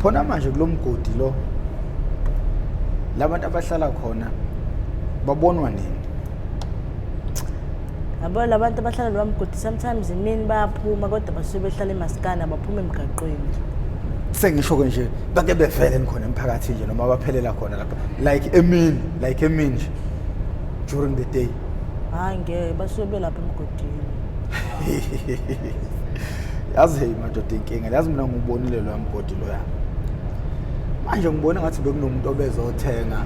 khona manje kulomgodi lo labantu abahlala khona babonwa nini yabo labantu abahlala lowa mgodi sometimes imini bayaphuma kodwa basuke behlala emasikana baphuma emgaqweni sengisho-ke nje bake bevele khona emphakathini nje noma baphelela khona lapha like emini like emini nje during the day hayi ngeke basuke belapha emgodi yazi hey madoda inkinga yazi mina ngubonile loya mgodi loya manje ngibona ngathi bekunomuntu obezothenga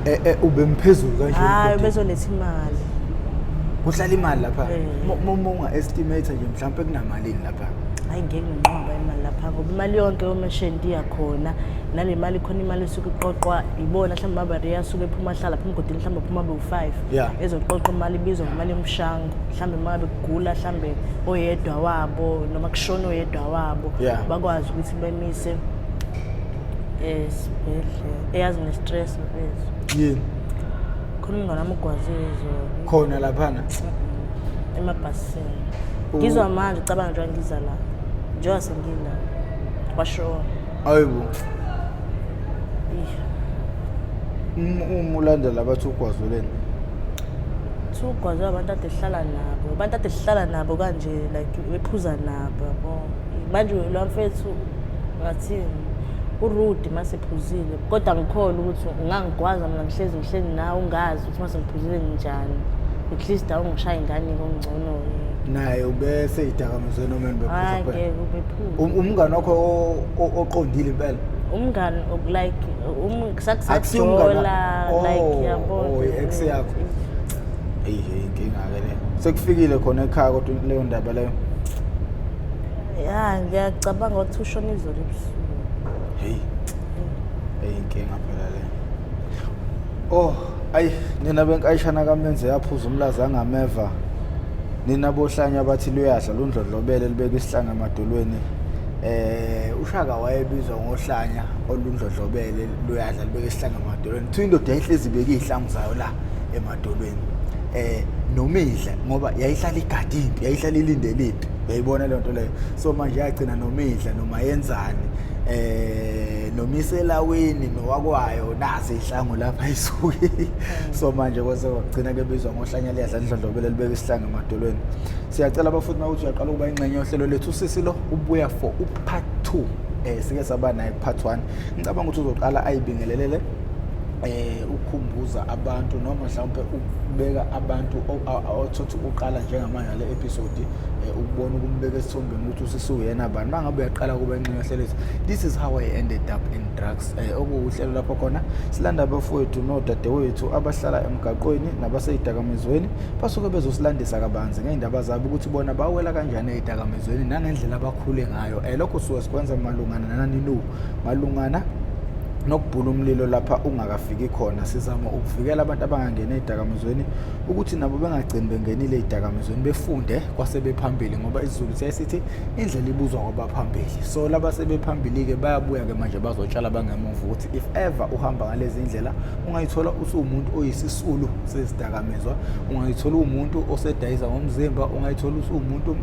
eh, eh, ubemphezulu kanje hayi ubezoletha imali kuhlala imali lapha eh. uma unga estimate nje mhlawumbe kunamalini lapha hayi ngeke nginqoba imali lapha ngoba imali yonke yomashenti iyakhona nale mali khona imali esuke iqoqwa ibona mhlawumbe abareya asuke ephuma ahlala phuma mgodini mhlawumbe phuma be-five yeah. ezoqoqa imali ibizwa ngemali yomshango mhlawumbe uma ngabe kugula mhlawumbe oyedwa wabo noma kushona oyedwa wabo yeah. bakwazi ukuthi bemise esibhedlela eyazi ne-stress mfethu yini khona umngane wami ugwazile izolo khona laphana emabhasini ngizwa manje ucabanga njengoba ngiza la njengoba sengila kwashona ayibo uma ulandela abathi ugwazuleni kuthiwa ugwazwe abantu ade sihlala nabo abantu ade sihlala nabo kanje like bephuza nabo yabo manje lo mfethu ngathini urude uma sephuzile kodwa ngikhona ukuthi ungangigwaza mina ngihlezi ngihleli nawe ungazi ukuthi uma sengiphuzile nginjani at least awungishaye ingane kongcono-ke naye ubese idakamizwe noma enibephuza kuphela Um- umngane wakho o- o- oqondile impela umngani ok- like um- Akusiye umngani sakusajola wakho. like Oh, yabo oh, i-ex yakho. eyi hey, inkinga-ke le sekufikile khona ekhaya kodwa leyo ndaba leyo ya ngiyacabanga ukuthi ushona izolo ebusuku heyi eyi inkinga phela le Oh, ayi nina benkayishana kamenze yaphuza umlaza angameva. Nina bohlanya abathi luyadla lundlodlobele libeka isihlanga emadolweni. Eh ushaka wayebizwa ngohlanya olundlodlobele luyadla libeka isihlanga emadolweni. Kuthiwa indoda yayihlezi ibeka izihlangu zayo la emadolweni. Eh nomidla ngoba yayihlala igadi impi, yayihlala ilindele impi. Uyayibona le nto leyo. So manje yagcina nomidla noma yenzani. Eh nomiselaweni nowakwayo nazi ihlangu lapha isuke so manje kwase kwagcina kebizwa ngohlanya liyadla ndlondlobele libeka isihlangu emadolweni siyacela abafundi makuthi uyaqala ukuba ingxenye yohlelo lethu usisi lo ubuya for upart two um sike saba naye kupart one ngicabanga ukuthi uzoqala ayibingelelele eh ukukhumbuza abantu noma mhlawumbe ukubeka abantu othothi uqala njengamanje le episode eh, ukubona ukumbeka esithombeni ukuthi usisuyena bani mangabe uyaqala kuba Hlelezi. This is how I ended up in drugs. Eh okuwuhlelo lapho khona silanda abafowethu nodadewethu abahlala emgaqweni nabaseyidakamizweni basuke bezosilandisa kabanzi ngeindaba zabo ukuthi bona bawela kanjani eyidakamizweni nangendlela abakhule ngayo. Eh lokho suke sikwenza malungana nani no malungana nokubhula umlilo lapha ungakafiki khona sizama ukuvikela abantu abangangena ezidakamizweni ukuthi nabo bengagcini bengenile ezidakamizweni befunde kwasebephambili ngoba isizulu siyaye sithi indlela ibuzwa kwabaphambili so laba sebephambili-ke bayabuya-ke manje bazotshala bangemuva ukuthi if ever uhamba ngalezi ndlela ungayithola usuwumuntu oyisisulu sezidakamizwa ungayithola uwumuntu osedayisa ngomzimba ungayithola usuwumuntu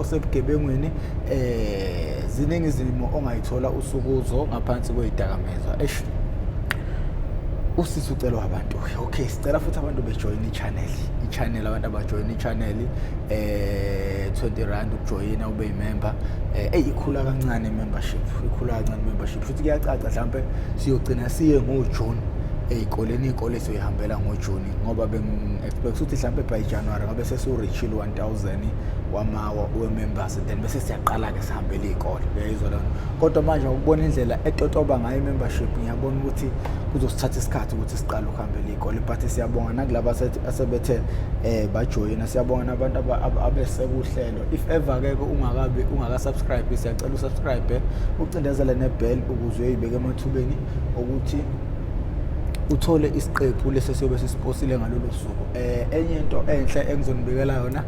osebugebengwini um ziningi izimo ongayithola usukuzo ngaphansi kweyidakamizwa esh usisi ucelwa abantu okay sicela futhi abantu bejoyine channel i-channel abantu abajoyina i-channel eh 20 rand ukujoyina ube yimember eh eyikhula kancane membership ikhula kancane membership futhi kuyacaca mhlambe siyogcina siye ngoJune ezikoleni izikole siyoyihambela ngoJuni ngoba bengi-expect ukuthi mhlambe by January ngabe sesiwurichile 1000 wamawa we-members then bese siyaqala-ke sihambele iy'kole uyayizwa lona kodwa manje ukubona indlela etotoba ngayo i-membership ngiyabona ukuthi kuzosithatha isikhathi ukuthi siqale phambili igoli but siyabonga nakulaba asebethe eh bajoyina siyabonga nabantu abesekuhlelo if ever ke ungakabi ungaka subscribe siyacela usubscribe ucindezele nebell ukuze uyibeke emathubeni ukuthi uthole isiqephu lesi siyobe sisiposile ngalolu suku eh enye into enhle engizonibikela yona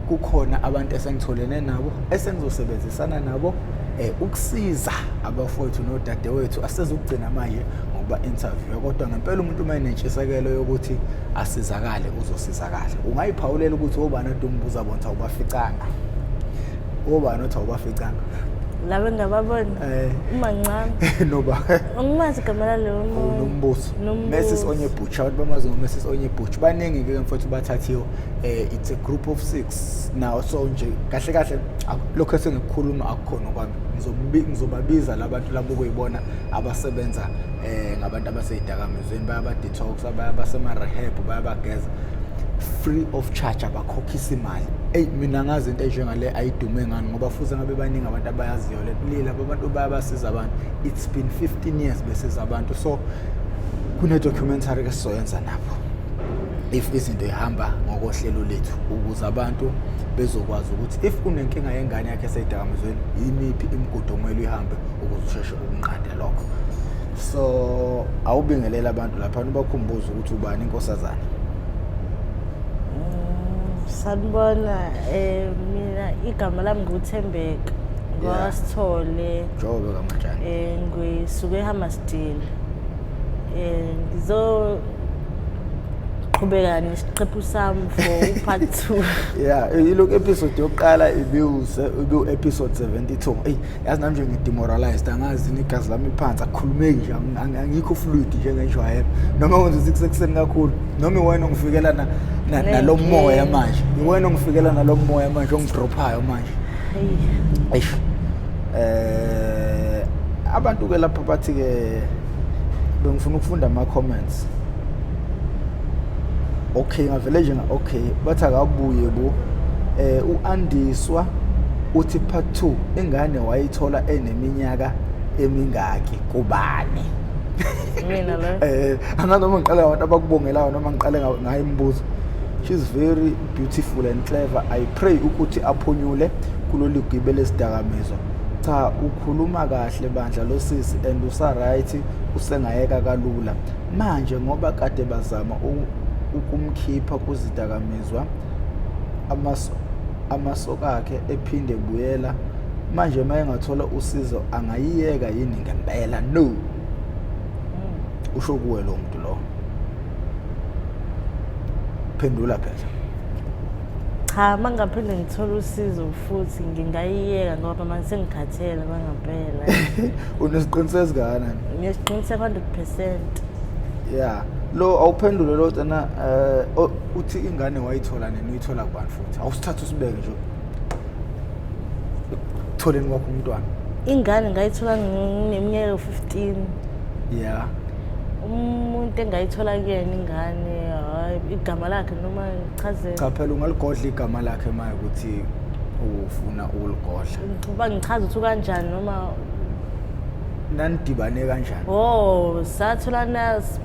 kukhona abantu esengitholene nabo esengizosebenzisana nabo eh ukusiza abafowethu nodadewethu asezokugcina manje ngokuba-interviewa kodwa ngempela umuntu uma enentshisekelo yokuthi asizakale uzosizakala ungayiphawulela ukuthi obani ade umbuza bona ukuthi awubaficanga obani othi awubaficanga laba engababona eh. umancane noba angimazi igama lalowo oh, nombuso mesis onye butch abantu bamazi ngomesis onye butch baningi ke mfowethu bathathiwe eh it's a group of 6 now so nje kahle kahle lokho esengikukhuluma akukhona kwami ngizobabiza labantu labo kuyibona abasebenza eh ngabantu abaseyidakamizweni bayabadetox abasemarehab bayabageza free of charge abakhokhisa imali eyi mina ngazi into enjengale ayidume ngani ngoba futhi ngabe baningi abantu abayaziyo le kulile abantu bayabasiza abantu it's been 15 years besiza abantu so kune-documentary ke sizoyenza napho if izinto ihamba ngokohlelo lethu ukuze abantu bezokwazi ukuthi if unenkinga yengane yakhe eseyidakamizweni yimiphi imigudu okumele uyihambe ukuze usheshe ukunqande lokho so awubingelele abantu lapha ubakhumbuze ukuthi ubani inkosazana mm, sanibona um mina igama lami nguthembeka ngwasithole jobe kamatshana um eh, ngisuke ehammasdile um eh, ngizo qhubeka nesiqephu sami for upart two ya eh, ilokhu episode yokuqala ibiwu-episode 72 eyi yazi nami nje ngidemoralized angazi negazi lami liphansi akukhulumeki nje angikho fluid nje ngenjwayelo noma kwenza ukuthi kusekuseni kakhulu noma iwena ongifikela nalo moya manje iwena ongifikela nalo moya manje ongidrophayo manje eish eh abantu ke lapha bathi ke bengifuna ukufunda ama comments okay ngavele nje nga okay bathi akabuye bo eh uandiswa uthi part 2 ingane wayithola eneminyaka emingaki kubani mina lo eh anganoma ngiqale abantu abakubongelayo noma ngiqale ngayo imibuzo she's very beautiful and clever i pray ukuthi aphunyule kulolu gibele sidakamizwa cha ukhuluma kahle bandla losisi and usa right usengayeka kalula Manje ngoba kade bazama ukumkhipha kuzidakamizwa amaso amasokakhe ephinde buyela manje uma engathola usizo angayiyeka yini ngempela no hmm. usho kuwe lo muntu lo phendula phela cha mangaphinde ngithola usizo futhi ngingayiyeka ngoba manje sengikhathele kwangempela unesiqiniseko esingakanani ngiyesiqiniseko 100 percent ya lo awuphendule lo tana um eh, uthi ingane wayithola nini uyithola kubani futhi awusithatha usibeke nje ekutholeni kwakho umntwana ingane ngayithola ngineminyaka yo-fifteen ya umuntu engayithola kuyena ingane hhayi igama lakhe noma Chazela. cha phela ungaligodla igama lakhe maye ukuthi ufuna ukuligodla Uba ngichaza ukuthi kanjani noma nanidibane kanjani oh satholana s-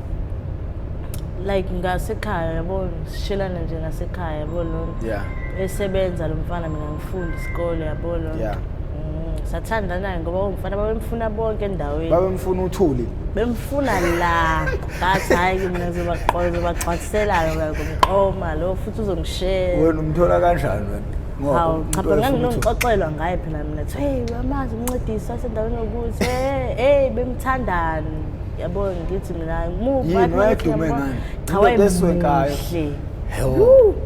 like ngasekhaya yabo sishelana nje ngasekhaya yabo lona yeah esebenza lo mfana mina ngifunda isikole yabo lona Yeah. Mm, sathandana-ke ngoba umfana babemfuna bonke endaweni babemfuna uthuli bemfuna la But hayi ke mina zobaxola zobaxwakiselayo like umqoma lo futhi uzongishela. Wena umthola kanjani wena? Ngoba Hawu umuntu cha phela ofuna ukuthi- nganginoxoxelwa ngaye phela mina kuthi hey uyamazi umncedisi wasendaweni yokuthi hey hey bemthandani. Yabo ngithi mina muphi Yini wathi mina wayedume ngiyambona. ngani? Cha Indoda eswenkayo. wayemuhle.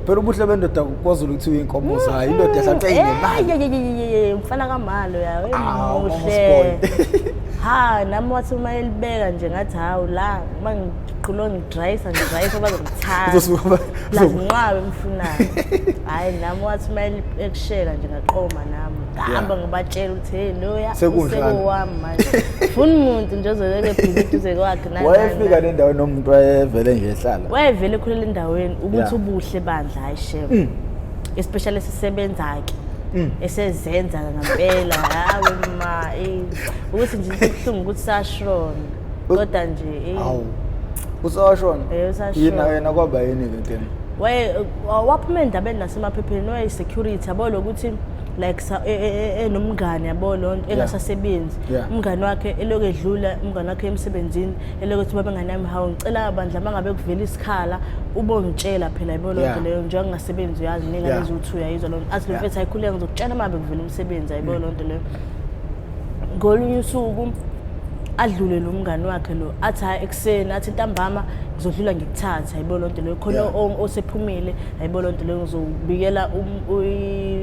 phela ubuhle bendoda kwazulu ukuthi uyinkomo mm, zayo indoda mm. ehlathe inemali mfana kamalo yawe ah, muhle ha nami wathi uma elibeka nje ngathi hawu la uma ngiqhulo ngidrayisa ngidrayisa bazongithanda lazinqabe emfunayo hhayi nami wathi uma ekushela nje ngaqoma nami ngihamba ngibatshela ukuthi hey loya usekowami manje funa umuntu nje ozoleke bhibhi duze kwakhe wayefika le ndawo noma umuntu wayevele nje ehlala wayevele khulele endaweni ukuthi ubuhle bandla hayi shem mm. especially sisebenza ke mm. esezenza ngempela hawe ma eh. ukuthi nje sibuhlungu ukuthi sashona kodwa nje eh. awu usashona eh, yena yena kwaba yini ke ntini waye waphuma endabeni nasemaphepheni waye security yabo lokuthi like sa- e- e- e- enomngane yabo loo nto engasasebenzi Yeah. umngane wakhe eloku edlula umngane wakhe emsebenzini eloku ethi babe nganami hawu ngicela bandla uma ngabe kuvela isikhala ubongitshela phela yabo loo Yeah. nto leyo njengoba ngingasebenzi uyazi ningane Yeah. eziwuthi uyayizwa loo nto athi lo Yeah. Mm. mfethu ayikhuleka ngizokutshela uma ngabe kuvela umsebenzi ayibo loo nto leyo ngolunye usuku adlule lo mngane wakhe lo athi hhayi senathi ntambama ngizodlula ngikuthathe hayibo lonto leyo khona Yeah. osephumile hayibo lonto leyo ngizobikela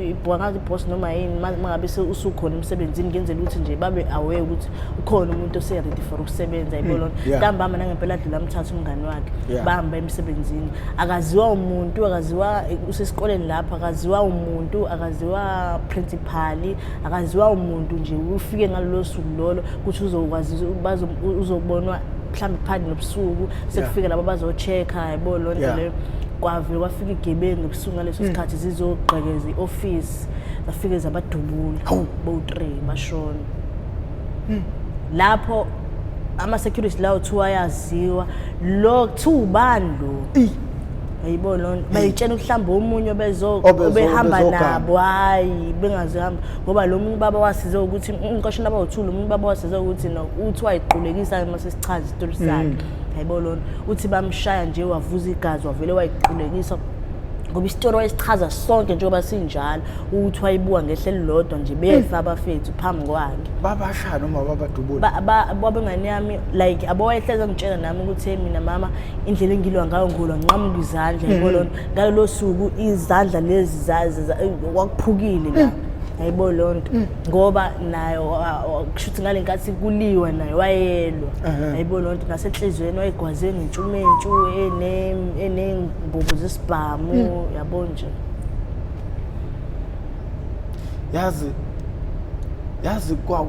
ibhwangazi boss noma yini ma- mangabe se- usukhona emsebenzini ngenzela ukuthi nje babe aware ukuthi ukhona umuntu oseredi for ukusebenza hayibo lonto Hmm. yeah. ntambama nangempela adlula amthatha umngani wakhe Yeah. bahamba emsebenzini akaziwa umuntu akaziwa usesikoleni lapho akaziwa umuntu akaziwa principali akaziwa umuntu nje ufike ngalolo suku lolo ukuthi uzokwazi uzobonwa mhlawumbe phakathi nobusuku sekufike labo bazocheck-a yabo loo nto leyo kwavele kwafika igebengu ebusuku ngaleso mm. sikhathi zizogqekeza i-ofisi zafike zabadubula bowu-three bashona mm. lapho ama-security lawo kuthiwa ayaziwa lo kuthiwa ubani lo Hayibo lona bayitshena ukuhlamba omunye obezo Obezo- obehamba obezogana. nabo hayi bengazohamba ngoba lo muntu baba wasize ukuthi umqashini baba uthule umuntu baba wasize ukuthi no uthi wayiqulekisa uma sesichaza isitori sakhe hayibo lona uthi bamshaya nje wavuza igazi wavele wayiqulekisa ngoba isitori wayesichaza sonke njengoba sinjalo ukuthi wayibuka ngehla elilodwa nje befa abafethu phambi kwakhe babashaya noma babadubula Ba- ba- babengane yami like abowayehlezi angitshela nami ukuthi hey mina mama indlela engilwa ngayo ngolwa nqamuka izandla mm-hmm. yabo lonto ngalolo suku izandla lezi kwakuphukile la mm. yayibo loo nto mm. ngoba naye kusho ukuthi ngale nkathi kuliwa naye wayelwa yayibo loo nto nasenhliziyweni wayegwaze nentshumentshu eney'mbobo zesibhamu mm. yabo nje yazi yazi kwa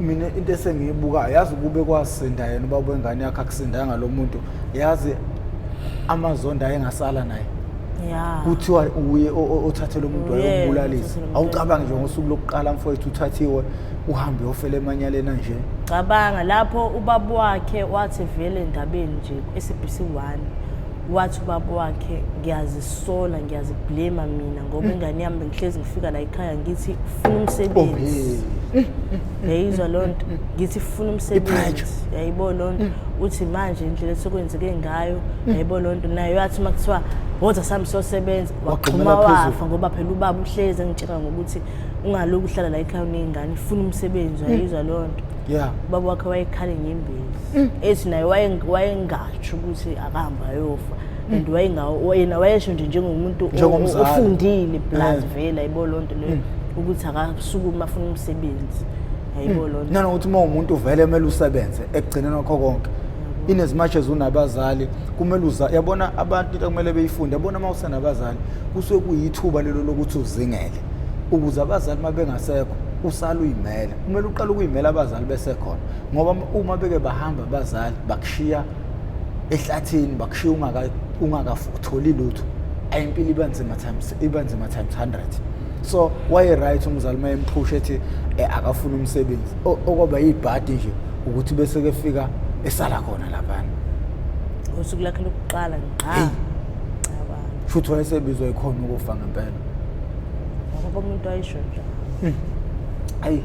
mina into esengiyibukayo yazi kube kwasinda yena uba wengane yakhe akusindanga ngalo muntu yazi amazondo ayengasala naye kuthiwa uye othathele umuntu wayombulalisa awucabangi nje ngosuku lokuqala mfowethu uthathiwe uhambe ofele emanyaleni anje cabanga lapho ubaba wakhe wathi vele endabeni nje ku-SABC 1 wathi ubaba wakhe ngiyazisola ngiyaziblema mina ngoba mm. ingane yami bengihlezi ngifika la ekhaya ngithi funa umsebenzi oh, yayizwa loo nto mm. ngithi funa umsebenzi yayibo loo nto mm. uthi manje indlela esekwenzeke ngayo yayibo loo nto nayo yathi uma kuthiwa woza sami sosebenza waxhuma wafa ngoba phela ubaba uhlezi engitshela ngokuthi ungaloku uhlala la ekhaya uney'ngane funa umsebenzi yayizwa loo nto yeah ubaba wakhe wayekhala inyembezi mm. ethi naye wayengatsho ukuthi akahamba ayofa mm. and wayengawo yena wayesho nje njengomuntu ofundile plus eh. vele ayibo loo nto leyo mm. ukuthi akasukuma afuna umsebenzi ayibo loo nto nanokuthi uma umuntu uvele kumele usebenze ekugcineni kwakho konke in as much as unabazali kumele uza yabona abantu into kumele beyifunde yabona uma usenabazali kusuke kuyithuba lelo lokuthi uzingele ukuze abazali uma bengasekho usala uyimela kumele uqale ukuyimela abazali besekhona ngoba uma beke bahamba abazali bakushiya ehlathini bakushiya ungakatholi lutho ayimpilo iba nzima times iba nzima times 100 so waye-right umzali uma emphusha ethi eh, akafuna umsebenzi okwaba yibhadi nje ukuthi bese kefika esala khona laphana usuku lakhe lokuqala ngiqala futhi wayesebizwa ikhona ukufa ngempela ngoba umuntu ayisho njalo ayi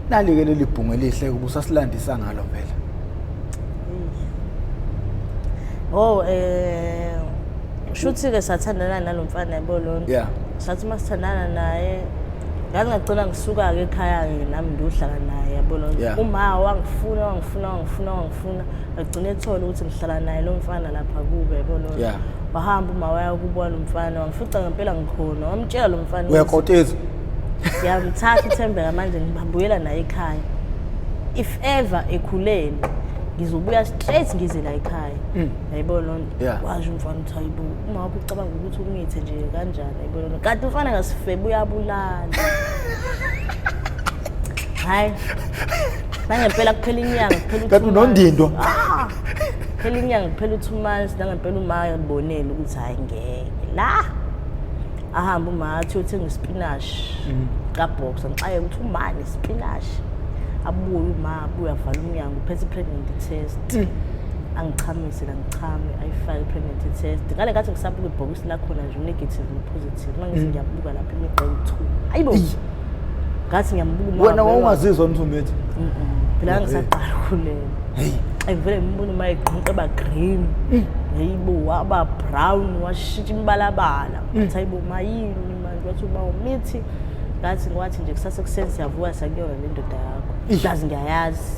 nalike leli bhungu elihle ubusasilandisa ngalo phela oh eh shuthi ke sathandana nalomfana yabo lona yeah sathi masithandana naye ngangagcina ngisuka ke ekhaya ke nami ngiyohlala naye yabo lona yeah. uma wangifuna wangifuna wangifuna funa agcine ethola ukuthi ngihlala naye lo mfana lapha kube yabo lo Yeah. wahamba uma waya kubona umfana wangifica ngempela ngikhona wamtshela lo mfana ukuthi- uyakoteza ngiyamthatha uthembeka manje ngibabuyela naye ekhaya if ever ekhulele ngizobuya straight ngize la ekhaya yayibona loo nto Yeah. washo umfana ukuthi hayibo uma wakho ucabanga ukuthi ukungithi nje kanjani yayibona loo nto kanti umfana ngasifebe uyabulala hhayi nangempela kuphela inyanga kuphela kanti unondindwa ah, kuphela inyanga kuphela u-two months nangempela umayo libonele ukuthi hhayi ngeke la ahambe umathi uyothenga isipinashi mm. kabhoxa ngixaye ukuthi umane isipinashi abuye uma abuye avala umnyango uphethe i-pregnancy test mm. angichamise la ngichame ayifake i-pregnancy test ngale ngathi ngisabuka ibhokisi lakhona nje u-negative no-positive uma ngithi mm. ngiyabuka lapha imigqa ewu-two ayibo ngathi ngiyambuka wena wawungazizwa mthumethi phela ngisaqala ukulela heyi ngivele ngimbona uma egqinqa eba green mm. heyibo waba brown washintsha imibalabala mm. ngathi hayibo mayini manje wathi uba umithi ngathi ngiwathi nje kusase kuseni siyavuka sakuyona le ndoda yakho ngazi ngiyayazi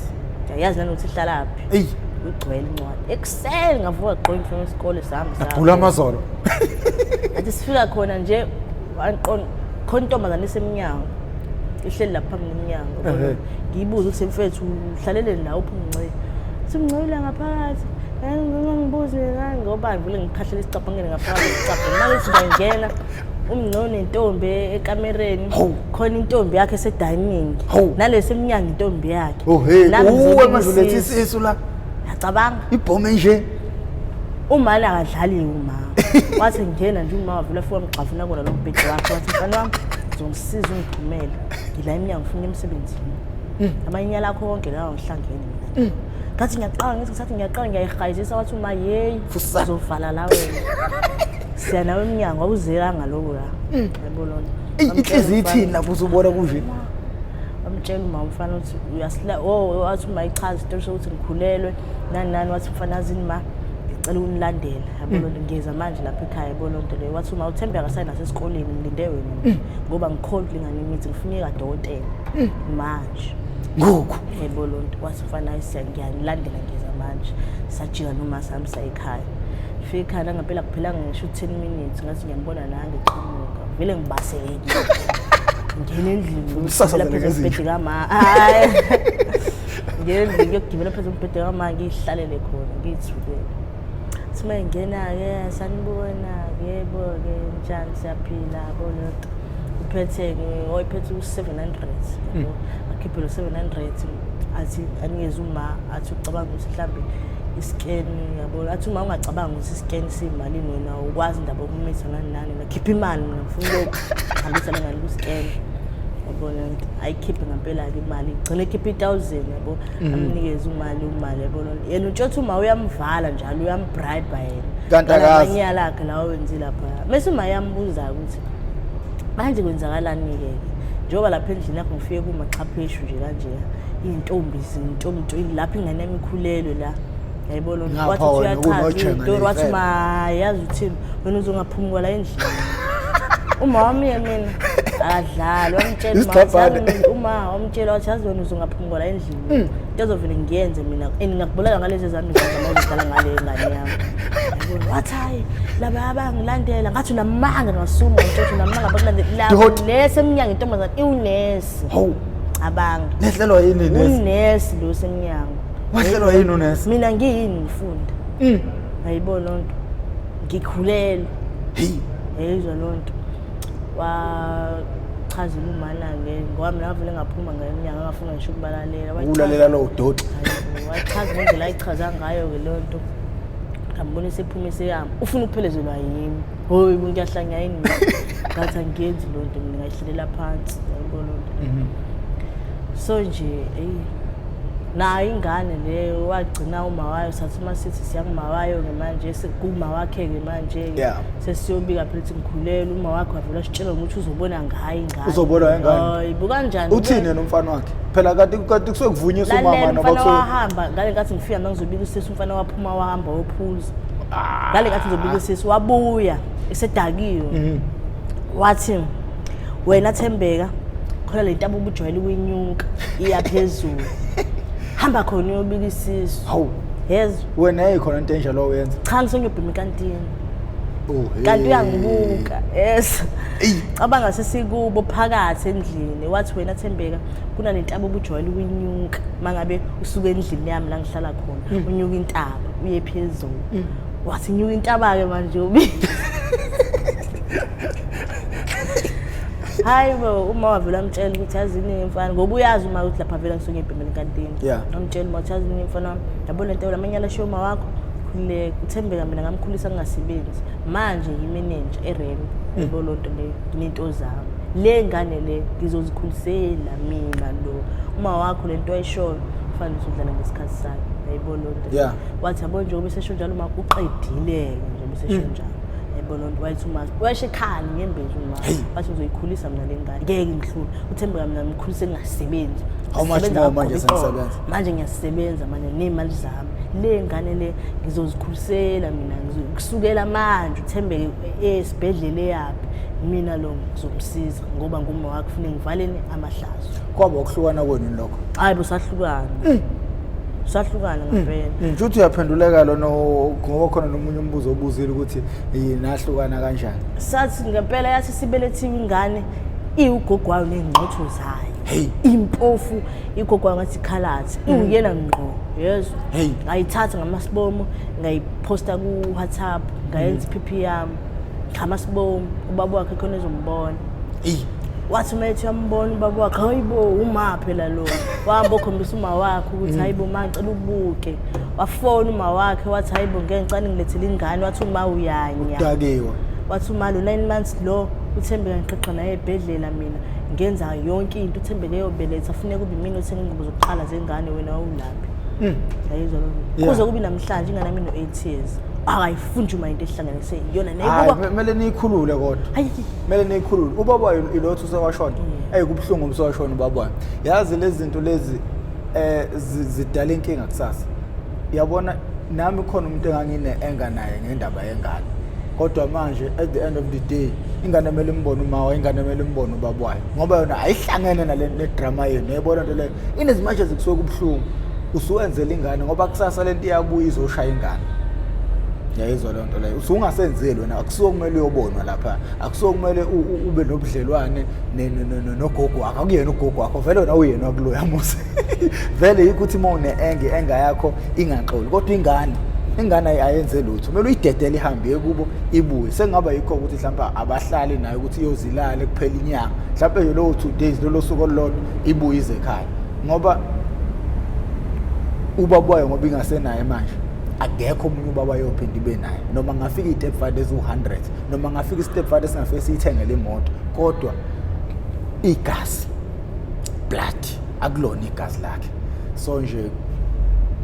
ngiyayazi nanokuthi ihlalaphi eyi igcwele incwadi ekuseni ngavuka gqoka imfuno yesikole sihamba sagula amazolo athi sifika khona nje wangiqonda khona intombazane isemnyango ihleli lapha phambi komnyango Ehhe. ngiyibuze ukuthi mfethu uhlaleleni la uphi umncika simncikile ngaphakathi ngibuze ngani ngoba ngivele ngikhahlela isicabhangele ngaphakathi isicabhangele manje singangena umngcono nentombi ekamereni Hawu. khona intombi yakhe esedayiningi Hawu. nalesi emnyango intombi yakhe Oh hey, Nami uwe ngizolibuzisa. mazilethe isisu la. Yacabanga ibhomu enje. umani akadlaliwe uma wathi ngena nje uma wavula fika mgxavuna kona lo mbhedi wakhe wathi mfana wami ngizomsiza ungithumele ngila emnyango ngifuna emsebenzini hmm. amanyala lakho konke lawo ngihlangene mina hmm ngathi ngiyaqala ngithi ngisathi ngiyaqala ngiyayihayizisa wathi uma yeyi uzovala la wena siya nawe emnyango awuzelanga lokho la mm. yabo lona inhliziyo ithini lapho uzubona kunje amtshela uma umfana ukuthi uyasila oh, oh athi uma ichaza isitori sokuthi ngikhulelwe nani nani wathi mfana azini ma ngicela unilandela yabo lonto ngiyeza manje lapha ekhaya yabo lonto leyo wathi uma uthembe akasayi nasesikoleni ngilinde wena ngoba ngikhona kulingana imithi ngifuna ikadokotela manje ngoku yabo lonto wathi mfana ayisiya ngiyanilandela ngiyeza manje sajika noma sami sayikhaya fika ekhaya langempela kuphelanga ngisho u-ten minutes ngathi ngiyambona la ngiqhamuka vele ngibaselekile ngingena endlini Umsasazele lapha ngezinja. ezibhedela ma hayi ngenze ngiyogibela phezu kombhede kamama ngiyihlalele khona ngiyithukele ukuthi uma ingena-ke sanibona-ke yebo-ke njani siyaphila koleto uphethe oyiphethe u-seven hundred hmm. akhiphe lo seven hundred athi anikeze uma athi ucabanga ukuthi mhlawumbe isikeni yabo athi uma ungacabanga ukuthi isikeni siyimalini wena ukwazi indaba yokumitha nani nani nakhipha imali mina ngifuna lokhu hambisa lengane kusikeni yabona ayikhiphe ngempela-ke imali igcine ekhiphe itawuzeni yabo mm. amnikeze imali umali yabo yena utshothi uma uyamvala njalo uyambribe yena kantiamanyala akhe lawo wenzi lapha mese uma yambuza-ke ukuthi manje kwenzakalani-ke njengoba lapha endlini yakho ngifike kumaxhapheshu nje kanjeya iy'ntombi zintombi lapho ingane yami ikhulelwe la yayibona lona Ngapha wathi uthi wena uyachaza unojenga iyitori wathi nempela. ma yazi uthini wena uzongaphumi kwala endlini uma wami ye mina akadlali wamtshela uma wathi, Isigcabhane. yazi mina, uma wamtshela wathi yazi wena uzongaphumi kwala endlini into ezovele ngiyenze mina and ngingakubulala ngalezi zami zazamazidlala ngale ngane yami Yabona, wathi hayi laba abangilandela ngathi unamanga ngasuma ngitshotho unamanga bakulandela Dihoti. nesi emnyango intombazane iwunesi hawu cabanga nehlelwa yini nesi unesi lo semnyango Wahlelwa yini unesi? Mina ngiyini ngifunda. Mm. Ayibo lonto. Ngikhulelwe. Hey. Yeyizwa lonto. Wa chaza umana ke ngoba mina ngavele ngaphuma ngeminyaka ngafuna ngisho ukubalalela. Ukulalela lo doti. Wachaza ngendlela ayichaza ngayo ke lonto. Ngambona sephuma seyama. Ufuna ukuphelezelwa yimi. hoyi umuntu yahlanya yini ngathi angiyenzi loo nto mina ngayihlelela phansi yayibona loo nto mhm. so nje eyi nayo ingane leyo wagcina uma wayo sathi uma sithi siyanguma wayo-ke manje sekuma wakhe-ke manje-ke sesiyobika phela ukuthi ngikhulele uma wakhe wavela sitshela ngokuthi uzobona ngayo ingane uzobona ingane buka njani uthini yena umfana wakhe phela kade kusuke kuvunyiswa umama noma kusuke wahamba ngale ngathi ngifika mangizobika usisi umfana waphuma wahamba wophuza ah. ngale kathi ngizobika sisi wabuya esedakiwe mhm. wathi wena thembeka khona le ntaba ubujwayele ukuyinyuka iya phezulu hamba khona uyobika isisu hawu yes wena eyikhona into enje lo wenza cha ngisengiyobhima ikantini oh, kanti uyangibuka yes cabanga sesikubo phakathi endlini wathi wena thembeka kunale ntaba ubujwayele ukuyinyuka mangabe usuke endlini yami la ngihlala khona unyuka intaba uye phezulu wathi nyuka intaba-ke manje ubi hayi bo uma wavela amtshela ukuthi yazi iningi mfana ngoba uyazi uma ukuthi lapha vela ngisuke ebhemeni kantini Yeah. amtshela uma ukuthi yazi iningi mfana wami yabo le nto lamanye alashiwe uma wakho khululeka uthembeka mina ngamkhulisa ngingasebenzi manje yimenenja erembi yabo loo nto leyo nento zami le ngane le ngizozikhulisela minxa lo uma wakho lento ayishoyo kufanele usudlala ngesikhathi sakhe yayibona lonto yeah. wathi yabo nje ubesesho njalo uma uqedile-ke nje ubesesho mm. njalo yayibona lonto wayethi uma wayesho ekhali ngembezi uma wathi uzoyikhulisa mina le ngane ngeke ngihlule uthembeka mina ngikhulise ngingasebenzi how much more manje sengisebenza manje ngiyasebenza manje nemali zami le ngane le ngizozikhulisela mina kusukela manje uthembeke esibhedlela eyaphi mina lo ngizomsiza ngoba nguma wakhe ufuna ngivaleni amahlazo kwaba ukuhlukana kwenu lokho hayi busahlukana mm. sahlukana mm. ngempela mm. nje uthi uyaphenduleka lona ngoba khona nomunye umbuzo obuzile ukuthi nahlukana kanjani sathi ngempela yathi sibelethiwe ingane iwugogwayo nengqotho zayo hey impofu igogwa ngathi khalathi mm. iwuyena ngqo yezwa hey ngayithatha ngamasibomo ngayiposta ku WhatsApp ngayenza iphiphi yami chama sibomi ubaba wakhe khona ezombona eyi wathi uma ethi uyambona ubaba wakhe hayi bo uma phela lo wahamba okhombisa uma wakhe ukuthi mm. hayi bo ma ngicela ubuke wafona uma wakhe wathi hayi bo ngeke ngicane ngilethele ingane wathi uma uyanya udakiwe wathi uma lo nine months lo uthembeka ngiqeqa naye ebhedlela mina ngenza yonke into uthembeke yobeletha funeka ube mina othenga ingubo zokuqala zengane wena wawulala Mm. Yayizwa lo. Yeah. Kuze kube namhlanje ingane yami no-8 years. Akayifundi uma into ehlanganise iyona Hayi, nayikuba me- kumele niyikhulule kodwa Hayi. kumele niyikhulule ubaba wayo ilothu usewashona eyi kubuhlungu umsewashona ubaba wayo yazi lezi zinto lezi eh zi- zidala inkinga kusasa yabona nami khona umuntu engangine-enga naye ngendaba yengane kodwa manje at the end of the day ingane kumele imbone umawa ingane kumele imbone ubaba wayo ngoba yona ayihlangene nale nedrama yenu yayibona nto leyo in as much as kusuke kubuhlungu usuwenzela ingane ngoba kusasa lento iyabuya izoshaya ingane yayizwa loo nto leyo usungasenzeli wena akusuke kumele uyobonwa lapha akusuke kumele ube nobudlelwane nogogo wakho akuyena ugogo wakho vele wena uyena wakuloya mose vele yikho ukuthi uma une-enge enga yakho ingaxoli kodwa ingane ingane ayenze lutho kumele uyidedele ihambe ye kubo ibuye sekungaba yikho ukuthi mhlawumbe abahlali nayo ukuthi iyozilale kuphela inyanga mhlawumbe yolowo two days lolo suku olulodwa ibuye ize ekhaya ngoba ubaba wayo ngoba ingasenaye manje akekho omunye ubaba yophinda ibe naye noma ngafika i-step father eziwu-100 noma ngafika i-step father singafike siyithengele imoto kodwa igazi blood akulona igazi lakhe so nje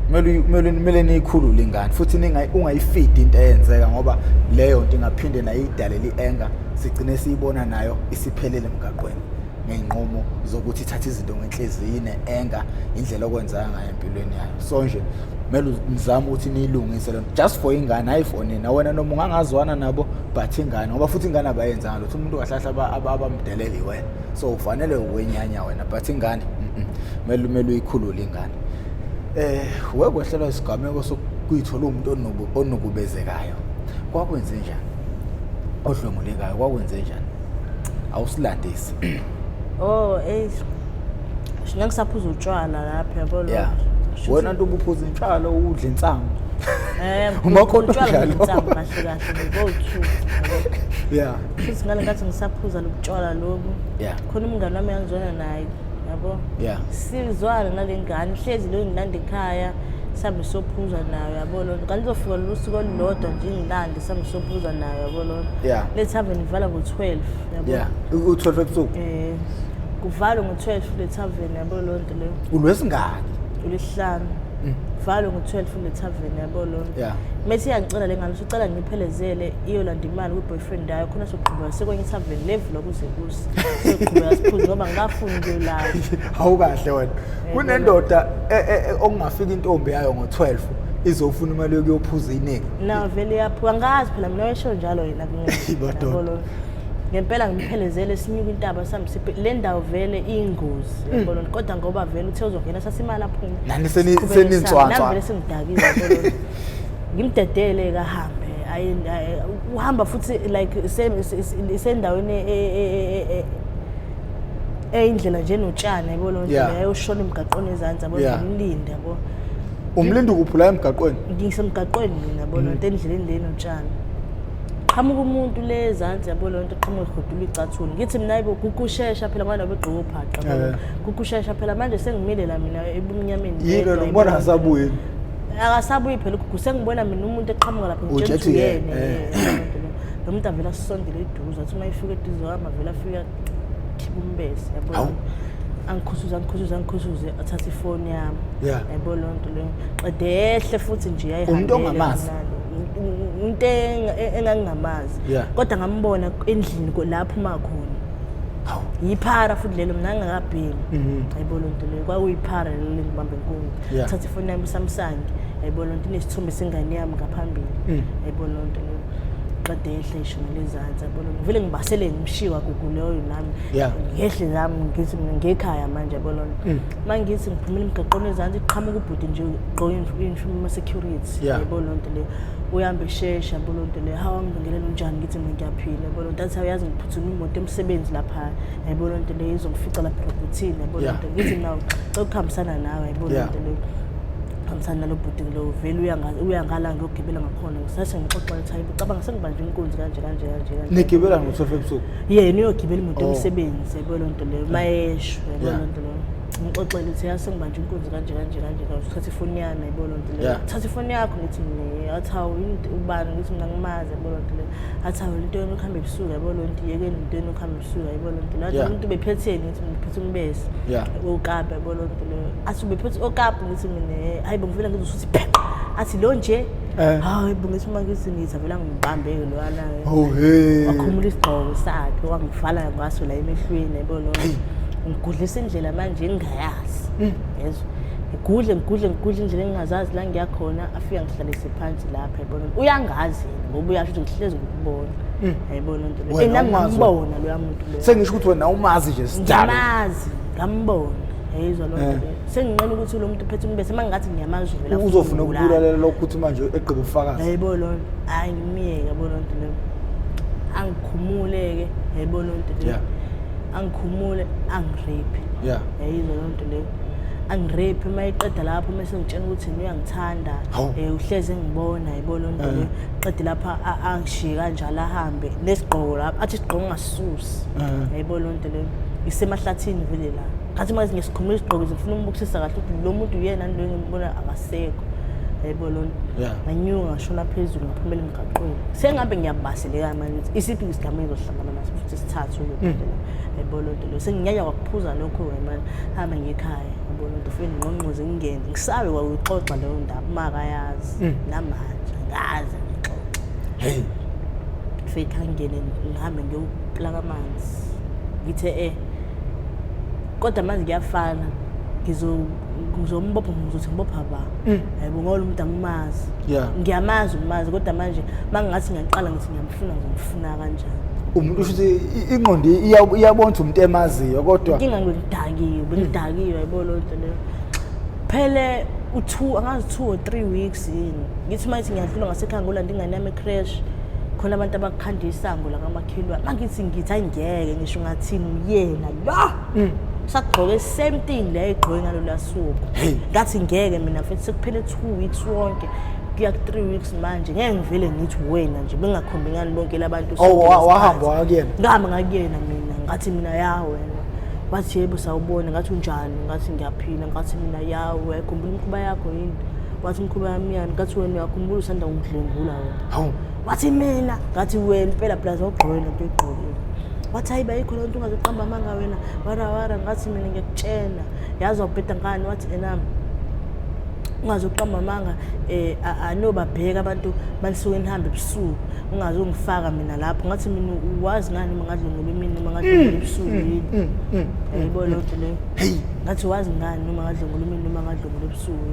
kumele kumele niyikhulule ingane futhi ungayifidi into eyenzeka ngoba leyo nto ingaphinde nayo idalele i-anger sigcine siyibona nayo isiphelele emgaqweni ngey'nqumo zokuthi ithathe izinto ngenhliziyi ine-enga indlela okwenzeka ngayo empilweni yayo so nje kumele nizame ukuthi niyilungise lento just for ingane hayi for nina wena noma ungangazwana nabo but ingane ngoba futhi ingane abayenzanga lutho umuntu kahlahla abamdelele wena so ufanele ukwenyanya wena but ingane kumele kumele uyikhulule ingane eh wekwehlelwa isigameko sokuyithola umuntu onukubezekayo kwakwenze njani odlwengulekayo kwakwenze njani awusilandisi oh ey shina ngisaphuza utshwala lapha yabo lo yeah wena nto ubuphuza intshalo udle insangu eh umakhona utshwala insangu kahle kahle go to yeah futhi ngale ngathi ngisaphuza lobutshwala lobu yeah khona umngane wami angizwana naye yabo yeah sizwana nalengane hlezi lo ngilanda ekhaya sihambe sophuza nayo yabo lo kanti uzofika lolusuku olulodwa nje ngilande Samsophuza nayo yabo lona. Yeah. Le tavern ivala ngo-12 yabo. Yeah. U-12 ebusuku. Eh. Kuvalwe ngo-12 le tavern yabo lonto leyo. Ulwesingaki? Ulihlanu. Mm. Kuvalwe ngo-12 le tavern yabo lonto. Yeah. Methi iyangicela le ngane usicela ngiphelezele iyolanda imali kwi-boyfriend yayo khona soqhubeka sekwenye itavern levula kuze kusi. Soqhubeka siphuze ngoba ngikafuni ukuyolala. Hawu kahle wena. Eh, Kunendoda e, e, e, okungafika intombi yayo ngo-12. izofuna imali yokuyophuza iningi na vele yaphuka ngazi phela mina wayesho njalo yena kumina ngempela ngiphelezele sinyuka intaba sambisiphe le ndawo vele iyingozi hmm. yabona kodwa ngoba vele uthe uzongena sasimali aphume nani seninswanswa vele sengidakile yabona ngimdedele kahambe uhamba futhi like isendaweni e, e, e, eyindlela nje notshana yabo lo ndlela yayoshona emgaqweni ezantsi yabo ngimlinde yabo umlindi kuphi la emgaqweni ngisemgaqweni mina yabo loo nto endleleni leni otshani qhamuka umuntu le ezansi yabo loo nto qhamuka egodula icathuni ngithi mina yibo kukushesha phela ngoba nabegqoke ubhaqa yabo. Eh. kukushesha phela manje sengimile la mina ebumnyameni yini ngedwa, wena yabo ubona loo nto. akasabuyi akasabuyi phela ugugu sengibona mina umuntu eqhamuka lapha Utshe ethi ngitshela yena, yena eh. lo muntu avele asondele eduze athi uma efika eduze wami avele afika umbese yabo angikhusuze angikhusuze angikhusuze athathe ifoni yami yabo loo nto leyo qedehle futhi nje yayihambele ongamazi into engangingamazi kodwa ngambona endlini lapho uma khona yiphara futhi lelo mna ngingakabhemi mhm. ayibo loo nto leyo kwakuyiphara lelo lengibambe nkungu thatha ifoni yami usamsange ayibo loo nto inesithombe sengane yami ngaphambili mm. ayibo loo nto leyo qede ehle ishumi lezansi yabona ngivele ngibasele ngishiwa gugu leyo nami Yeah. ngehle nami ngithi mina ngekhaya manje yabona Mm. uma ngithi ngiphumela emgaqweni ezansi iqhamuka ubhuti nje gqoke iyunifomu yama-security Yeah. yabo loo nto leyo uhambe eshesha yabo loo nto leyo hawu angibingelele unjani ngithi mina ngiyaphila yabo loo nto athi awuyazi ngiphuthuma imoto emsebenzi lapha yabo loo nto leyo izongifica lapha erobhothini yabo loo Yeah. nto ngithi mina cela ukuhambisana nawe yabo loo Yeah. nto leyo hambisana nalo bhuti lo vele uya nga- uya ngala ngiyogibela ngakhona Bona ngisase ngixoxa ukuthi hayibo cabanga sengibanjwe inkunzi kanje kanje kanje kanje. Nigibela ngo-12 ebusuku. Yena uyogibela imoto Oh. yomsebenzi yabo loo nto leyo mayesho yabo Yeah. loo nto leyo. Ngixoxele ukuthi yase ngibanjwe inkunzi kanje kanje kanje kanje uthatha ifoni yami yabo loo nto leyo. Yeah. Thatha ifoni yakho ngithi ne athi hawu yini into- ubani ngithi mina ngimazi yabo loo nto leyo. Athi hawu into yenu ukuhamba ebusuku yabo loo nto yekeni into yenu ukuhamba ebusuku yabo loo nto leyo. Athi Yeah. umuntu bephetheni ngithi ngiphethe umbesi. Yeah. Okapa yabo loo nto leyo. Athi ubephethe okapa ngithi mina hayi bo ngivela ngizwe ukuthi pheqa athi lo nje Eh. hayi bo ngithi uma ngithi ngithi avela ngibambeke loyana Oh, hey. wakhumula isigqoko sakhe wangivala ngaso la emehlweni yabo lo ngigudlisa indlela manje engingayazi Hmm. yezwa ngigudle ngigudle ngigudle indlela engingazazi la ngiya khona afika ngihlalise phansi lapha yabona uyangazi yena ngoba uyasho ukuthi ngihlezi ngikubona yayibona into leyo Hmm. Wena Eh, nami umazi wa- ngambona loya muntu loyo sengisho ukuthi wena umazi nje sidalo ngimazi ngambona yayizwa loo nto Eh. leyo senginqena ukuthi lo muntu uphethe umbese uma ngingathi ngiyamazi vela uzofuna ukubulalela lokho ukuthi manje egqiba ubufakazi hayibo loo nto hhayi ngimyeke yabo loo nto leyo angikhumule-ke hayibo loo nto leyo angikhumule angirephi yayizo loo nto leyo angirephi uma iqeda lapho uma esengitshena ukuthi yena uyangithanda um uhlezi engibona hayibo loo nto leyo eh. qede lapho angishiye kanjalo ahambe nesigqoko lapho athi isigqoko ngasisusi hayibo eh. loo leyo isemahlathini vele la ngathi manje ngesikhumula isigqoko zifuna umbukisisa kahle ukuthi lo muntu uyena lo engimbona akasekho yebo lona nganyuka ngashona phezulu ngaphumela emgaqweni sengabe ngiyabaseleka manje ukuthi isiphi isigameko ezohlangana naso futhi sithathu lo muntu mm. yebo lo nto lo senginyanya kwakuphuza lokho wemani hamba ngekhaya yebo lo nto fike ngqongqoze ngingene ngisabe kwakuyixoxa leyo ndaba makayazi mm. namanje ngaze ngixoxe hey fike angene ngihambe ngiyo lakamanzi ngithe eh kodwa manje kuyafana ngizombopha ngizothi ngibopha ba mm. hayibo ngoba lo muntu angimazi ngiyamazi umazi kodwa manje uma ngingathi ngiyaqala ngithi ngiyamfuna ngizomfuna kanjani umuntu usho ukuthi ingqondo iyabona ukuthi umuntu emaziyo kodwa inkinga ngidakiwe bengidakiwe mm. yayibona loo nto leyo phele u-two angazi two or three weeks yini ngithi uma ithi ngiyadlula ngasekhaya ngolanda ingane yami ecrash khona abantu abakukhanda isango lakamakhelwane mangithi ngithi ayingeke ngisho ngathini uyena la mm. sagqoke same thing le egqoke ngalo lasuku ngathi ngeke mina futhi sekuphele 2 weeks wonke kuya ku 3 weeks manje ngeke ngivele ngithi wena nje bengakhombi ngani bonke labantu oh, wahamba wakuyena ngihamba ngakuyena mina ngathi mina ya wena wathi yebo sawubona ngathi unjani ngathi ngiyaphila ngathi mina ya uyayikhumbula imikhuba yakho yini wathi imikhuba yami yani ngathi wena uyakhumbula usanda kungidlwengula wena hawu wathi mina ngathi wena impela plus ogqoke lento egqokile wathi hayi bayikho lento ungazoqamba amanga wena warawara ngathi mina ngiyakutshela yazi wabheda ngani wathi enami ungaze uqamba amanga eh anobabheka abantu manisuke nihambe ebusuku ungaze ungifaka mina lapho ngathi mina uwazi ngani uma ngadlungula imini uma ngadlungula mm, ebusuku mm, yini mm, yayibona lento leyo ngathi wazi ngani uma ngadlungula imini uma ngadlungula ebusuku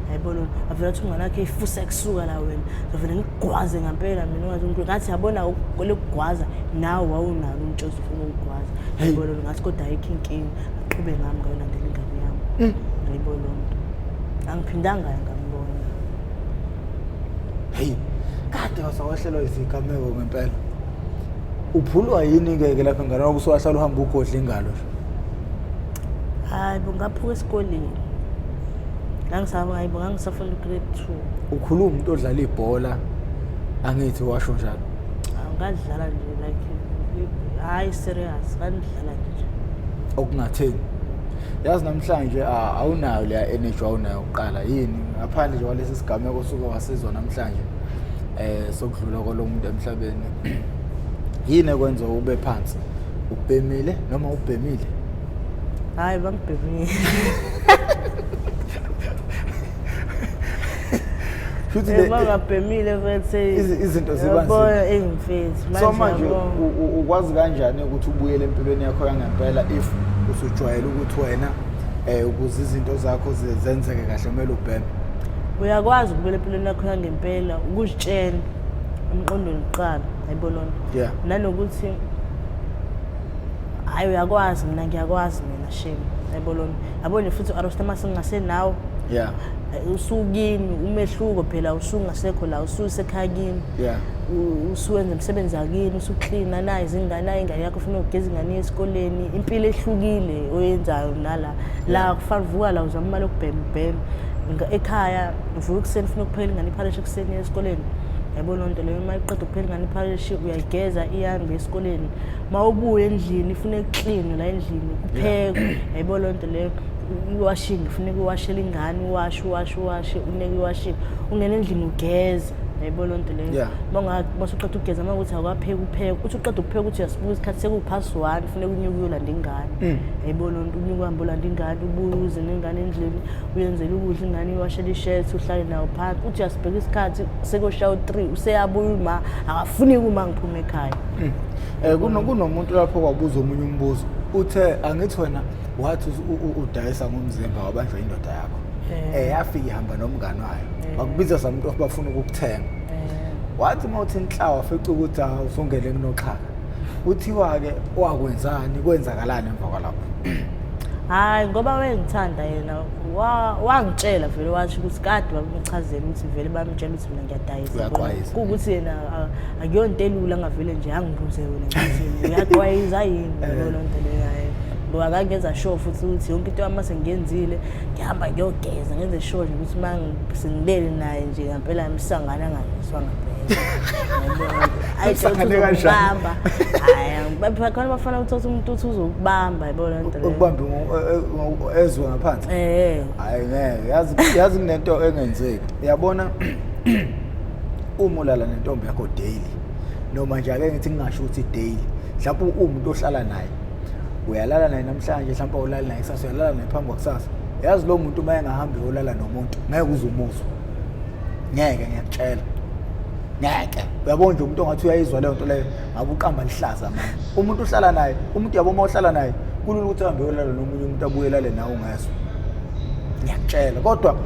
yayibona wena avele athi umngane wakhe ifusa kusuka la wena ngavele ngigwaze ngampela mina ungathi unkulu ngathi yabona lokugwaza nawe wawunalo umtshozi ufuna ukugwaza yayibona wena ngathi kodwa ayikho inkinga aqhube ngami ngayolandela ingane yami mm. yayibona lo mntu angiphindanga ngambona heyi kade wasawehlelwa izigameko ngempela uphulwa yini ngeke lapha ngane wakho usuwahlala uhamba ugodla ingalo hayi bungaphuka esikoleni ngangisaba hayi bo ngangisafunda ugrade two ukhuluma umuntu odlala ibhola angithi washo njalo Awu, ngadlala nje like hhayi serious ngandidlala nje okungatheni yazi namhlanje ah, awunayo leya energy awunayo kuqala yini ngaphandle nje kwalesi sigameko osuke wasizwa namhlanje eh sokudlula kwalomuntu emhlabeni yini ekwenza ube phansi ubhemile noma ubhemile hayi bangibhebile futhi Eh, le- bangabhemile bethe Izi- izinto ziba nzima. yabona eyimfethu so manje yabona. u- u- ukwazi kanjani ukuthi ubuyele empilweni yakho yangempela if usujwayele ukuthi wena um ukuze izinto zakho ze- zenzeke kahle kumele ubheme uyakwazi ukubuyela empilweni yakho yangempela ukuzitshela emqondweni kuqala ayibonona Yeah. nanokuthi hayi uyakwazi mina ngiyakwazi mina shame yayibona yabona futhi u-arosta masingasenawo yeah eh, usukini umehluko phela usungasekho la ususekhaya kini yeah usuwenza umsebenzi akini usuklina nayo izingane nayo ingane yakho ufuna ukugeza ingane yesikoleni impilo ehlukile oyenzayo nala la kufana uvuka la uzama imali yokubhembhema ekhaya uvuka ekuseni ufuna ukuphela ingane iphalishe ekuseni esikoleni yayibona loo nto leyo uma iqeda ukuphela ingane iphalishe uyayigeza ihambe esikoleni uma ubuya endlini ifuna ekuklini la endlini kuphekwe yayibona loo nto leyo iwashingi funeka iwashele ingane uwashe uwashe uwashe uneke iwashingi ungena endlini ugeze yayibona loo nto leyo masuqeda ukugeza uma ukuthi akwapheka upheka uthi uqeda ukupheka ukuthi uyasibuka isikhathi sekuwuphasi one funeka unyuke uyolanda ingane mm. yayibona loo nto unyuke uhambe olanda ingane ubuye uze nengane endlini uyenzele ukudla ingane iwashele ishethi uhlale nawo phansi uthi uyasibheka isikhathi sekoshaya u-three useyabuya uma akafuni kuma ngiphume ekhaya Hmm. Eh, kunomuntu lapho kwabuza omunye umbuzo uthe angithi wena wathi udayisa ngomzimba wabanjwa indoda yakho um eh. eh, yafika ihamba nomngani wayo eh. bakubiza samuntu of bafuna ukukuthenga wathi uma uthi inhlawa fica ukuthi awusongele ah, kunoxhaka kuthiwa-ke wakwenzani kwenzakalani emva kwalapho hhayi ngoba wengithanda yena wangitshela vele washo ukuthi kade babemchazela ukuthi vele bamtshela ukuthi mina ngiyadayisa kuwukuthi yena ah, akuyonto elula ngavele nje angibuze yona ngithi uyaqwayiza yini lona nto leyayo ngoba kangenza sure futhi ukuthi yonke into yami sengiyenzile ngihamba ngiyogeza ngenze sure nje ukuthi uma sengibele naye nje ngampela msangana angayiswa ngampela ayisangane kanjani hayi khona bafana uthatha umuntu uthi uzokubamba yibona nto leyo ukubamba eh, eh, ezwe ngaphansi eh hayi ngeke yazi yazi kunento engenzeki uyabona uma ulala nentombi yakho daily noma nje ake ngithi ngingasho ukuthi daily mhlawumbe uwumuntu ohlala naye uyalala naye namhlanje mhlawumbe awulali naye kusasa uyalala naye phambi kwakusasa yazi lo muntu uma engahambi yolala nomuntu ngeke uze umuzwe ngeke ngiyakutshela ngeke uyabona nje umuntu ongathi uyayizwa leyo nto leyo akuqamba lihlaza manje umuntu uhlala naye umuntu yabo uma uhlala naye kulula ukuthi ahambe yolala nomunye umuntu abuyelale nawe ungazo ngiyakutshela kodwa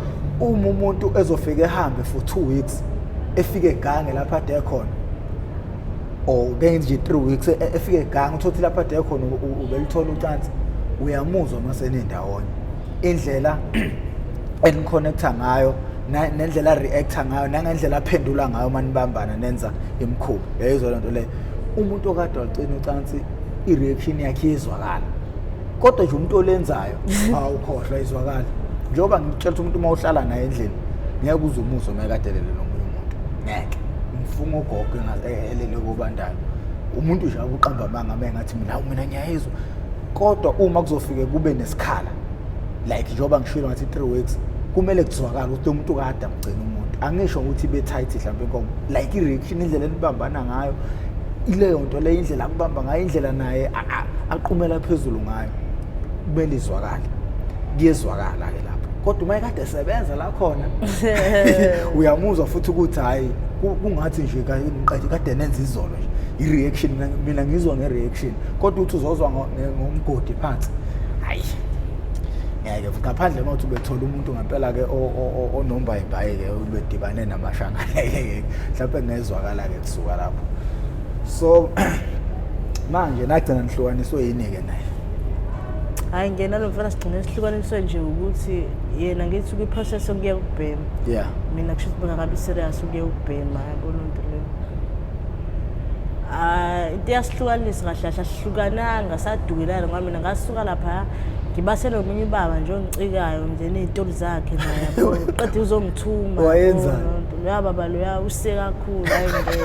uma umuntu ezofika ehambe for two weeks efike egange lapha ade khona or benje three weeks e, efike egange uthothi lapha ade khona ubelithola ucansi uyamuzwa uma senendawonye indlela eniconnecta ngayo nendlela reacta ngayo nangendlela aphendula ngayo uma nibambana nenza imikhuba yayizwa lento leyo umuntu okade wacina ucansi i-reaction yakhe iyezwakala kodwa nje umuntu olenzayo awukhohlwa izwakala njengoba ngitshela ukuthi umuntu uma uhlala naye endlini ngeke uze umuzwe uma ekadelele nomunye umuntu ngeke ngifunga ugogo elele kobandayo umuntu nje akuqamba amanga uma engathi mina mina ngiyayizwa kodwa uma kuzofike kube nesikhala like njengoba ngishilo ngathi three weeks kumele kuzwakale ukuthi umuntu kade amgcina umuntu angisho ukuthi be-tight mhlawumbe inkomo like i-reaction indlela enibambana ngayo ileyo nto leyo indlela akubamba ngayo indlela naye aqumela phezulu ngayo kumele izwakale kuyezwakala-ke lapho kodwa uma ekade esebenza la khona uyamuzwa futhi ukuthi hhayi kungathi nje kade nenza izolo nje i-reaction mina ngizwa nge-reaction kodwa uthi uzozwa ngomgodi phansi hayi ngeke futhi ngaphandle uma uthi ubethola umuntu ngempela-ke onomba ibhayi-ke ubedibane namashanga ngeke mhlawumpe ngezwakala-ke kusuka lapho so manje nagcina nihlukaniswe yini-ke naye hhayi ngena lo mfana sigcine sihlukaniswe nje ukuthi yena ngithi kwi-process okuya ukubhema yeah mina kusho ukuthi bengakabi serious ukuya ukubhema yabona into leyo Ah, into eyasihlukanisa kahle kahle asihlukananga sadukelana ngoba mina ngasuka lapha ngibase nomunye ubaba nje ongicikayo nje ney'toli zakhe naye yabo. qede uzongithuma Wayenzani? yabo, lento. loya baba loya use kakhulu hayi ngeke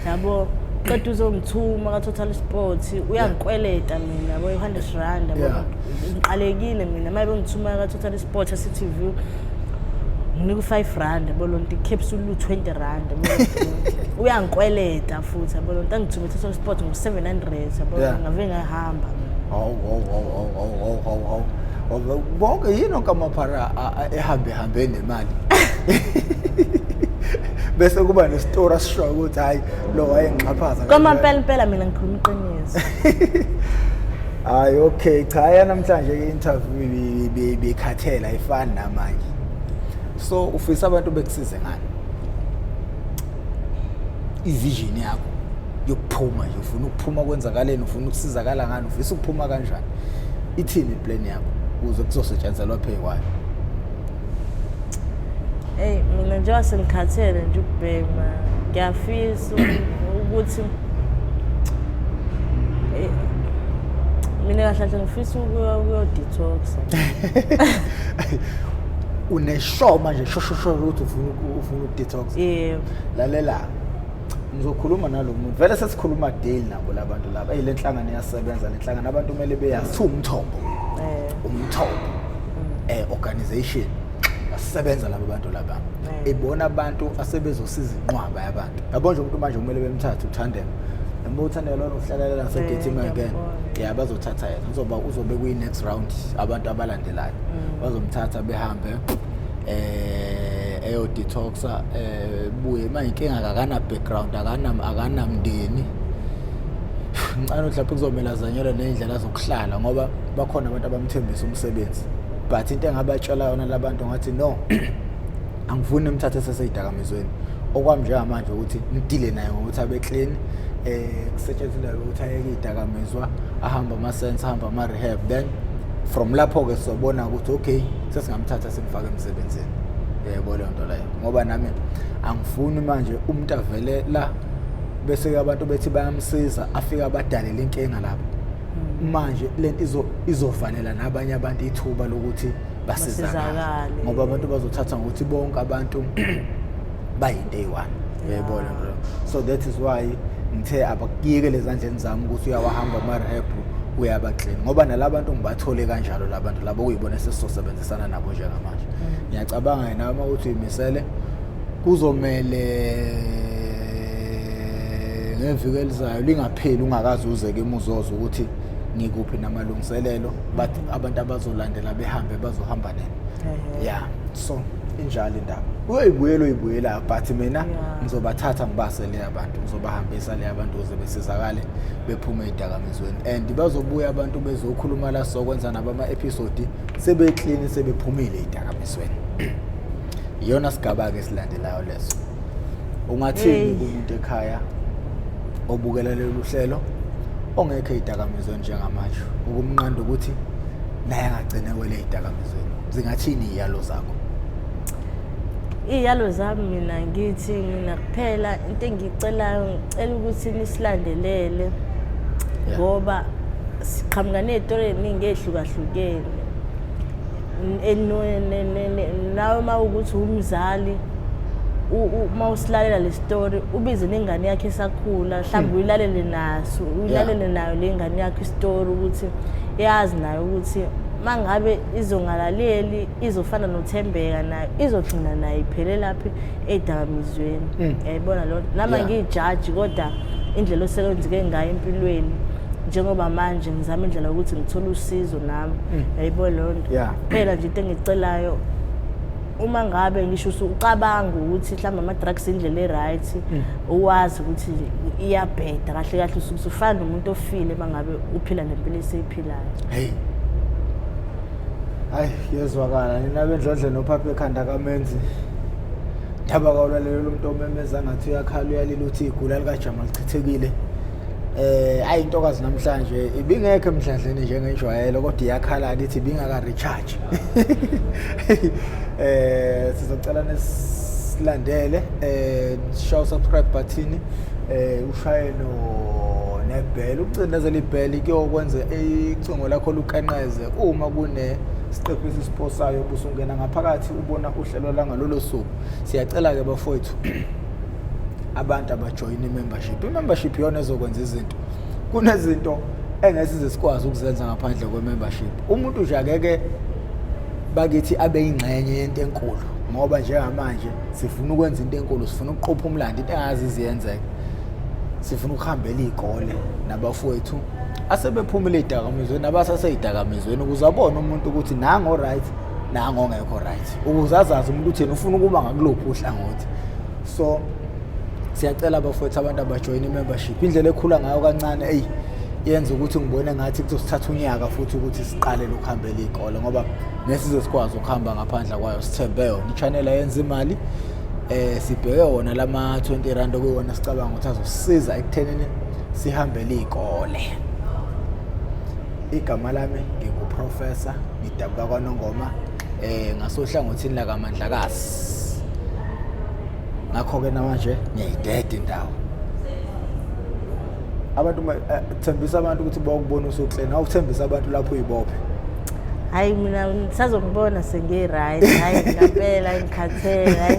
yabo qede uzongithuma ka-total sport uyangikweleta mina yabo i-hundred rand yabo Yeah. ngiqalekile mina uma bengithuma ka-total Botha City View nginika u-5 rand bolonto i-capsule lu-20 rand uyangikweleta futhi bolonto angithume uthatha sport ngo-700 yabona ngave ngahamba konke yini okamaphara ehambe hambe nemali bese kuba nesitori asishoyo ukuthi hhayi lo wayengixhaphaza kwamampela mpela mina ngikhuluma iqiniso hayi okay cha yanamhlanje i-interview bekhathela ifani namanje so ufisa abantu bekusize ngani ivision yakho yokuphuma nje ufuna ukuphuma kwenzakaleni ufuna ukusizakala ngani ufisa ukuphuma kanjani ithini iplan yakho ukuze kuzosetshenzelwa phekwani eyi mina njengoba sengikhathele nje ukubhema ngiyafisa ukuthi mina kahle kahle ngifisa ukuyodetoxa uneshow manje shoshosho ukuthi ufuna ufuna ukudetox yebo lalela ngizokhuluma nalo muntu vele sesikhuluma daily nabo labantu laba eyi le nhlangano iyasebenza le nhlangano abantu kumele beyazi umthombo eh. umthombo mm. eh organization basebenza laba bantu laba mm. ibona abantu asebezosiza inqwaba yabantu yabo nje umuntu manje kumele bemthathe uthandela noma uthandela lona uhlalela nasegethini mm, again ya bazothatha yena uzoba uzobe kwi next round abantu abalandelayo mm. bazomthatha behambe eh eyo detoxa eh buye manje inkinga akana background akana akana mndeni ngicela mhlawumbe kuzomela zanyelwe nezindlela zokuhlala ngoba bakhona abantu abamthembisa umsebenzi but into engabatshela yona labantu ngathi no angifuni umthathe seseyidakamizweni okwami njengamanje ukuthi ngidile naye ngokuthi abe clean eh kusetshenziswa ukuthi ayeke idakamizwa ahamba ama sense ahamba ama rehab then from lapho ke sobona ukuthi okay sesingamthatha simfake emsebenzini yebo leyo nto leyo ngoba nami angifuni manje umuntu avele la bese abantu bethi bayamsiza afike abadalele inkinga lapho hmm. manje lento izo izovalela nabanye abantu ithuba lokuthi basizakale ngoba abantu bazothatha ngokuthi bonke abantu bayinto eyi-one uyayibona yeah. so that is why ngithe abakuyekele ezandleni zami ukuthi uyawahamba ama-rehab uyabaxina ngoba nalabantu ngibathole kanjalo labantu labo kuyibona esesizosebenzisana nabo njengamanje mm. ngiyacabanga yena uma uthi uyimisele kuzomele ngeviki elizayo lingapheli ungakazi uzeke imuzozo ukuthi ngikuphi namalungiselelo but abantu abazolandela behambe bazohamba nini Ehhe. yeah so injalo indaba uyoyibuyela uyibuyela but mina Yeah. ngizobathatha ngibase le abantu ngizobahambisa le abantu ukuze besizakale bephume edakamizweni and bazobuya abantu bezokhuluma la sokwenza nabo ama-episode sebeklini sebephumile edakamizweni iyona sigaba-ke esilandelayo leso ungathini kumuntu ekhaya obukela lolu hlelo ongekho ey'dakamizweni njengamanje ukumnqanda ukuthi naye angagcine wele ey'dakamizweni zingathini iy'yalo zakho iy'yalo zami mina ngithi mina kuphela into engiyicelayo ngicela ukuthi nisilandelele ngoba siqhamuka ney'tori ey'ningi ey'hlukahlukene nawe uma ukuthi umzali uma usilalela le story ubize nengane yakhe esakhula mhlawumbe hmm. uyilalele naso uyilalele nayo le ngane yakho istory ukuthi yazi nayo ukuthi uma ngabe izongalaleli izofana nothembeka nayo izogcina nayo iphele laphi edakamizweni hmm. yayibona loo nto nama ngiyijaji kodwa indlela osekwenzeke ngayo empilweni njengoba manje ngizama indlela yokuthi ngithole usizo nami mm. yayibo leyo nto kuphela nje into engicelayo uma ngabe ngisho usucabanga ukuthi mhlawumbe ama-drugs indlela e-right mm. uwazi ukuthi iyabheda kahle kahle usuke usufana nomuntu ofile uma ngabe uphila nempilo eseyiphilayo heyi hayi kuyezwakala nina bendlondle nophapha ekhanda kamenzi ndaba kawulalelo lomntu omemeza ngathi uyakhala uyalila ukuthi igula likajamal chithekile eh ayi intokazi namhlanje ibingekho emdladleni njengejwayelo kodwa iyakhala lithi ibingaka recharge eh sizocela nesilandele eh show subscribe button eh ushaye no nebhela ukucindezela ibhela kuyokwenza icingo lakho lukenqeze uma kune siqephu esisiposayo busungena ngaphakathi ubona uhlelo langalolo suku siyacela ke bafowethu abantu abajoyina i-membership i-membership iyona ezokwenza izinto kunezinto engesize sikwazi ukuzenza ngaphandle kwe-membership umuntu nje akeke bakithi abe yingxenye yento enkulu ngoba njengamanje sifuna ukwenza into enkulu sifuna ukuqopha umlando into engazi iziyenzeka sifuna ukuhambela iy'kole nabafowethu asebephumile ey'dakamizweni abasasey'dakamizweni ukuze abone umuntu ukuthi nango-right nango ongekho-right ukuze azazi umuntu uthini ufuna ukuba ngakuluphi uhlangothi so siyacela bafowethu abantu abajoyina i-membership indlela ekhula ngayo kancane eyi yenza ukuthi ngibone ngathi kuzosithatha unyaka futhi ukuthi siqale lokuhambela iy'kole ngoba nesize sikwazi ukuhamba ngaphandle kwayo sithembe yona i-channel ayenza imali eh sibheke wona lama 20 rand okuwona sicabanga ukuthi azosisiza ekuthenini sihambele izikole igama lami nginguprofessor ngidabuka kwanongoma eh ngasohlangothini lakamandlakazi ngakho-ke namanje ngiyayideda indawo abantu eh, thembisa abantu ukuthi bawukubona usukleni awuthembisa abantu lapho uyibophe hayi mina sazongibona sengiyi-right hayi ngampela ngikhathele hayi